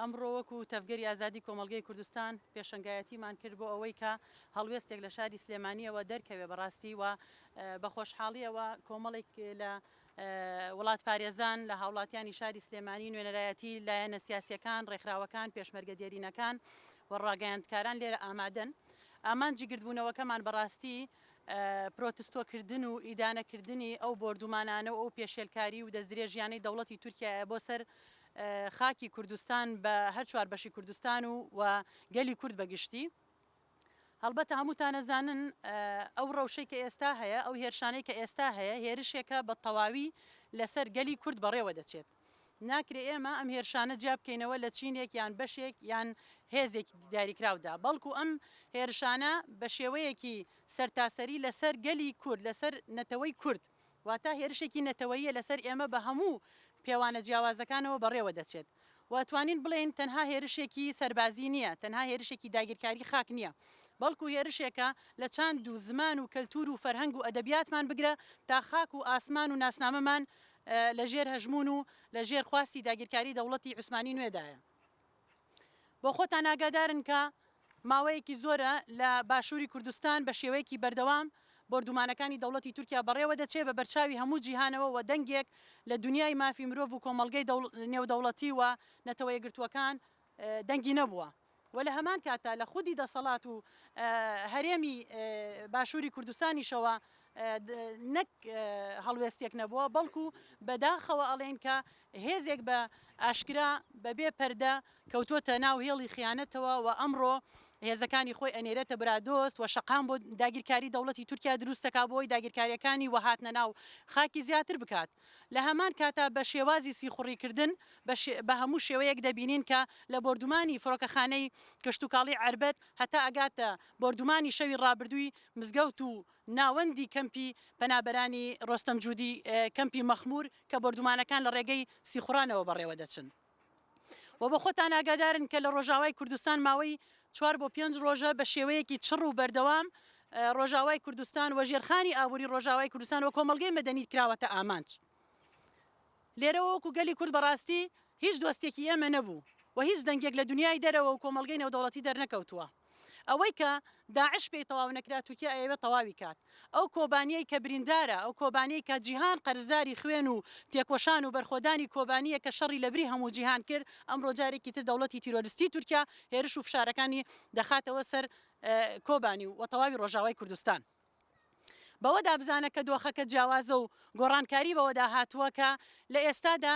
ئەمڕۆ وەکو تەڤگەری ئازادی کۆمەڵگەی کوردستان پێشەنگایەتیمان کرد بۆ ئەوەی کە هەڵوێستێک لە شاری سلێمانیەوە دەرکەوێ بەڕاستی و بە خۆشحاڵیەوە کۆمەڵێک لە وڵاتپارێزان، لە هاوڵاتیانی شاری سلێمانی، نوێنەرایەتی لایەنە سیاسییەکان، ڕێکخراوەکان، پێشمەرگە دێرینەکان و ڕاگەیاندکاران لێرە ئامادەن. ئامانجی گردبوونەوەکەمان بە ڕاستی پرۆتستۆکردن و ئیدانەکردنی ئەو بۆردومانانە و ئەو پێشێلکاری و دەستدرێژییانەی دەوڵەتی تورکیایە بۆ سەر خاکی کوردستان بە هەر چوار بەشی کوردستان و و گەلی کورد بە گشتی. هەڵبەتە هەمووتان ئەزانن ئەو ڕەوشەی کە ئێستا هەیە، ئەو هێرشانەی کە ئێستا هەیە، هێرشێکە بە تەواوی لەسەر گەلی کورد بەڕێوە دەچێت. ناکرێ ئێمە ئەم هێرشانە جیا بکەینەوە لە چینێک یان بەشێک یان هێزێکی دیاریکراودا، بەڵکو ئەم هێرشانە بە شێوەیەکی سەرتاسەری لەسەر گەلی کورد، لەسەر نەتەوەی کورد، واتە هێرشێکی نەتەوەییە لەسەر ئێمە بە هەموو پێوانە جیاوازەکانەوە بەڕێوە دەچێت. و توانین بڵێین تەنها هێرشێکی سەربازی نییە، تەنها هێرشێکی داگیرکاری خاک نییە، بەڵکو هێرشێکە لە چاند و زمان و کەلتور و فەرهەنگ و ئەدەبیاتمان بگرە تا خاک و ئاسمان و ناسنامەمان لە ژێر هەژمون و لە ژێر خواستی داگیرکاری دەوڵەتی عوسمانی نوێدایە. بۆخۆتان ئاگادارن کە ماوەیەکی زۆرە لە باشووری کوردستان بە شێوەیەکی بەردەوام بۆردومانەکانی دەوڵەتی تورکیا بەڕێوە دەچێ بە بەرچاوی هەموو جیهانەوە و دەنگێک لە دونیای مافی مرۆڤ و کۆمەڵگەی نێودەوڵەتی و نەتەوە یەکگرتووەکان دەنگی نەبووە و لە هەمان کاتدا لە خودی دەسەڵات و هەرێمی باشووری کوردستانیشەوە نەک هەڵوێستێک نەبووە بەڵکو بە داخەوە ئەڵێین کە هێزێک بە ئاشکرا بە بێ پەردە کەوتووەتە ناو هێڵی خیانەتەوە و ئەمڕۆ هێزەکانی خۆی ئەنێرێتە برادۆست و شەقام بۆ داگیرکاری دەوڵەتی تورکیا دروست دەکات بۆی داگیرکاریەکانی و هاتنە ناو خاکی زیاتر بکات لە هەمان کاتا بە شێوازی سیخوڕی کردن بە هەموو شێوەیەک دەبینین کە لە بۆردومانی فڕۆکەخانەی کشتوکاڵی عەربەت هەتا ئەگاتە بۆردومانی شەوی ڕابردووی مزگەوت و ناوەندی کەمپی پەنابەرانی ڕۆستەم جودی کەمپی مەخمور کە بۆردومانەکان لە ڕێگەی سیخوڕانەوە بەڕێوە دەچن و بە خۆتان ئاگادارن کە لە ڕۆژاوای کوردستان ماوەی چوار بۆ پێنج ڕۆژە بە شێوەیەکی چڕ و بەردەوام ڕۆژاوای کوردستان و ژێرخانی ئابووری ڕۆژاوای کوردستان و کۆمەڵگەی مەدەنی کراوەتە ئامانج لێرەوە وەکو گەلی کورد بەڕاستی هیچ دۆستێکی ئێمە نەبوو و هیچ دەنگێک لە دنیای دەرەوە و کۆمەڵگەی نێودەوڵەتی دەرنەکەوتووە. ئەوەی کە داعش پێی تەواو نەکرا تورکیا ئەیەوێت تەواوی کات ئەو کۆبانیەی کە بریندارە ئەو کۆبانیەی کە جیهان قەرزداری خوێن و تێکۆشان و بەرخۆدانی کۆبانیە کە شەڕی لەبری هەموو جیهان کرد ئەمڕۆ جارێکی تر دەوڵەتی تیرۆرستی تورکیا هێرش و فشارەکانی دەخاتەوە سەر کۆبانی و تەواوی ڕۆژاوای کوردستان بەوەدا بزانە کە دۆخەکە جیاوازە و گۆڕانکاری بەوەدا هاتووە کە لە ئێستادا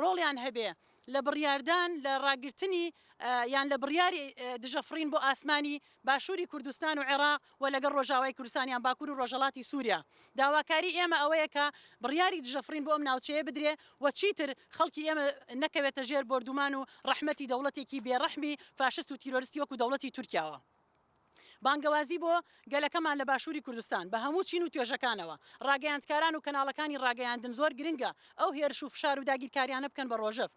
ڕۆڵیان هەبێ لە بڕیاردان لە ڕاگرتنی یان لە بڕیاری دژە فڕین بۆ ئاسمانی باشووری کوردستان و عێراق و لەگەڵ ڕۆژاوای کوردستان یان باکوور و ڕۆژهەڵاتی سووریا. داواکاری ئێمە ئەوەیە کە بڕیاری دژە فڕین بۆ ئەم ناوچەیە بدرێ و چیتر خەڵکی ئێمە نەکەوێتە ژێر بۆردومان و ڕەحمەتی دەوڵەتێکی بێ ڕەحمی فاشست و تیرۆرستی وەکوو دەوڵەتی تورکیاوە. بانگەوازی بۆ گەلەکەمان لە باشووری کوردستان بە هەموو چین و توێژەکانەوە. ڕاگەیاندکاران و کەناڵەکانی ڕاگەیاندن زۆر گرنگە ئەو هێرش و فشار و داگیرکاریانە بکەن بە ڕۆژەڤ.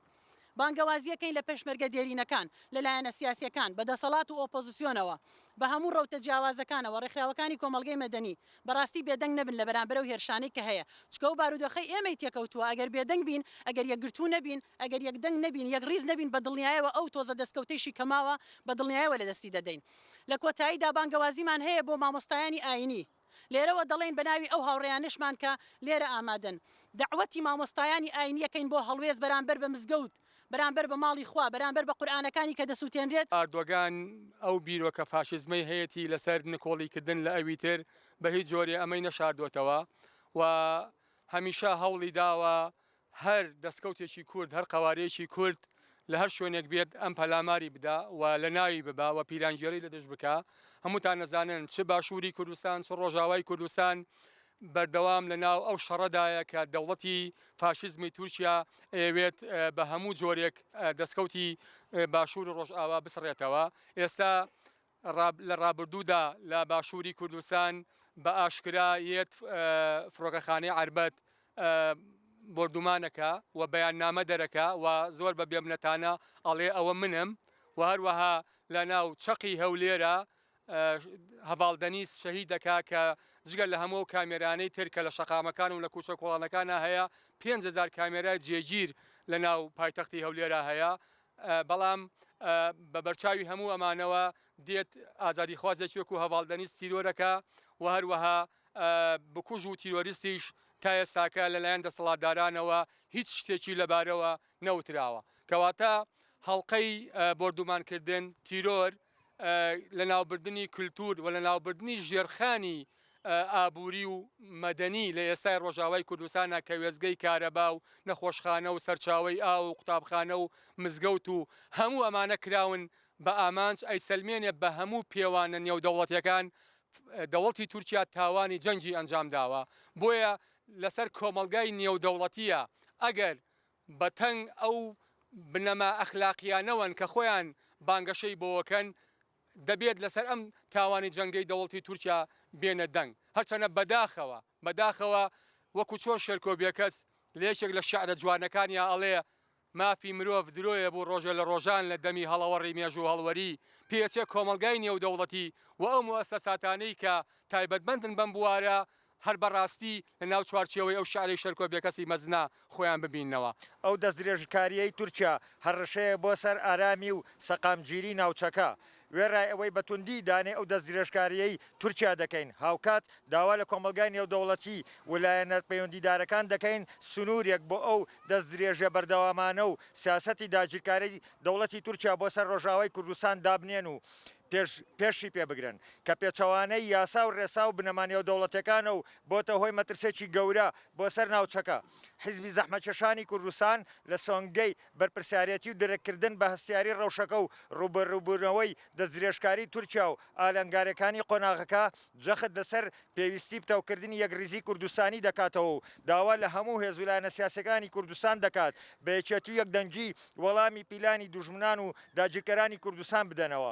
بانگەوازییەکەین لە پێشمەرگە دێرینەکان، لە لایەنە سیاسییەکان، بە دەسەڵات و ئۆپۆزسیۆنەوە، بە هەموو ڕەوتە جیاوازەکانەوە، ڕێکخراوەکانی کۆمەڵگەی مەدەنی بەڕاستی بێدەنگ نەبن لە بەرامبەر ئەو هێرشانەی کە هەیە، چونکە ئەو بارودۆخەی ئێمەی تێکەوتووە، ئەگەر بێدەنگ بین، ئەگەر یەکگرتوو نەبین، ئەگەر یەک دەنگ نەبین، یەک ڕیز نەبین بە دڵنیایەوە ئەو تۆزە دەستکەوتەیشی کە ماوە بە دڵنیایەوە لە دەستی دەدەین. لە کۆتاییدا بانگەوازیمان هەیە بۆ مامۆستایانی ئایینی. لێرەوە دەڵێین بە ناوی ئەو هاوڕێیانەشمان کە لێرە ئامادەن، دەعوەتی مامۆستایانی ئایینی ئەکەین بۆ هەڵوێست بەرامبەر بە مزگەوت، بەرامبەر بە ماڵی خوا، بەرامبەر بە قورئانەکانی کە دەسووتێنرێت. ئاردۆگان ئەو بیرۆکە فاشیزمەی هەیەتی لەسەر نکۆڵیکردن لە ئەویتر، بە هیچ جۆرێ ئەمەی نەشاردۆتەوە و هەمیشە هەوڵی داوە هەر دەستکەوتێکی کورد، هەر قەوارەیەکی کورد لە هەر شوێنێک بێت ئەم پەلاماری بدا و لە ناوی ببا و پیلانگێڕی لە دژ بکا. هەمووتان ئەزانن چ باشووری کوردستان، چ ڕۆژاوای کوردستان بەردەوام لە ناو ئەو شەڕەدایە کە دەوڵەتی فاشیزمی تورکیا ئەیەوێت بە هەموو جۆرێک دەستکەوتی باشوور و ڕۆژاوا بسڕێتەوە. ئێستا لە ڕابردوودا لە باشووری کوردستان بە ئاشکرا یەت فڕۆکەخانەی عەربەت بۆردومان ئەکا و بەیاننامە دەرەکا و زۆر بە بێمنەتانە ئەڵێ ئەوە منم و هەروەها لە ناو چەقی هەولێرە هەڤاڵ دەنیز شەهید دەکا کە جگە لە هەموو کامێرانەی تر کە لە شەقامەکان و لە کوچە کۆڵانەکانە هەیە پێنج هەزار کامێرای جێگیر لە ناو پایتەختی هەولێرا هەیە بەڵام بە بەرچاوی هەموو ئەمانەوە دێت ئازادیخوازێک وەکوو هەڤاڵ دەنیز تیرۆرەکە و هەروەها بکوژ و تیرۆریستیش تا ئێستاکە لەلایەن دەسەڵاتدارانەوە هیچ شتێکی لەبارەوە نەوتراوە. کەواتە هەڵقەی بۆردومانکردن، تیرۆر، لەناوبردنی کلتور و لەناوبردنی ژێرخانی ئابوری و مەدەنی لە ئێستای ڕۆژاوای کوردستانا کە وێستگەی کارەبا و نەخۆشخانە و سەرچاوەی ئاو و قوتابخانە و مزگەوت و هەموو ئەمانە کراون بە ئامانج ئەیسەلمێنێ بە هەموو پێوانە نێودەوڵەتیەکان دەوڵتی تورکیا تاوانی جەنگی ئەنجامداوە بۆیە لەسەر کۆمەڵگای نێودەوڵەتیە ئەگەر بە تەنگ ئەو بنەما ئەخلاقیانەوەن کە خۆیان بانگەشەی بۆەکەن، دەبێت لەسەر ئەم تاوانی جەنگەی دەوڵتی تورکیا بێنە دەنگ، هەرچەنە بەداخەوە بەداخەوە وەکو چۆن شێرکۆ بێکەس لە یەکێک لە شعرە جوانەکانیا ئەڵێ، مافی مرۆڤ درۆیە بو ڕۆژێ لە ڕۆژان لە دەمی هەڵەوەڕی مێژو هەڵوەری پێچێ کۆمەڵگای نێودەوڵەتی و ئەو موئەسەساتانەی کە تایبەتمەندن بەم بوارە هەر بە ڕاستی لە ناو چوارچێوەی ئەو شارەی شەرکۆ بێکەسی مەزنە خۆیان ببیننەوە. ئەو دەستدرێژکارییەی تورکیا هەڕەشەیە بۆ سەر ئارامی و سەقامگیری ناوچەکە. وێڕای ئەوەی بە توندی ئیدانەی ئەو دەستدرێژکارییەی تورکیا دەکەین، هاوکات داوا لە کۆمەڵگای نێودەوڵەتی و لایەنە پەیوەندیدارەکان دەکەین سنوورێک بۆ ئەو دەستدرێژییە بەردەوامانە و سیاسەتی داگیرکارەی دەوڵەتی تورکیا بۆ سەر ڕۆژئاوای کوردستان دابنێن و پێش پێشی پێ بگرن، کە پێچەوانەی یاسا و رێسا و بنەما نێودەوڵەتیەکانە و بۆتە هۆی مەترسێکی گەورە بۆ سەر ناوچەکە. حیزبی زەحمەتکێشانی کوردستان لە سۆنگەی بەرپرسیارێتی و درککردن بە هەستیاری رەوشەکە و رووبەرووبوونەوەی دەستدرێژکاری تورکیا و ئالنگاریەکانی قۆناغەکە، جەخت لەسەر پێویستی پتەوکردنی یەکڕیزیی کوردستانی دەکاتەوە و داوا لە هەموو هێز و لایەنە سیاسییەکانی کوردستان دەکات بە یەکێتی و یەکدەنگی وەڵامی پیلانی دوژمنان و داگیرکەرانی کوردستان بدەنەوە.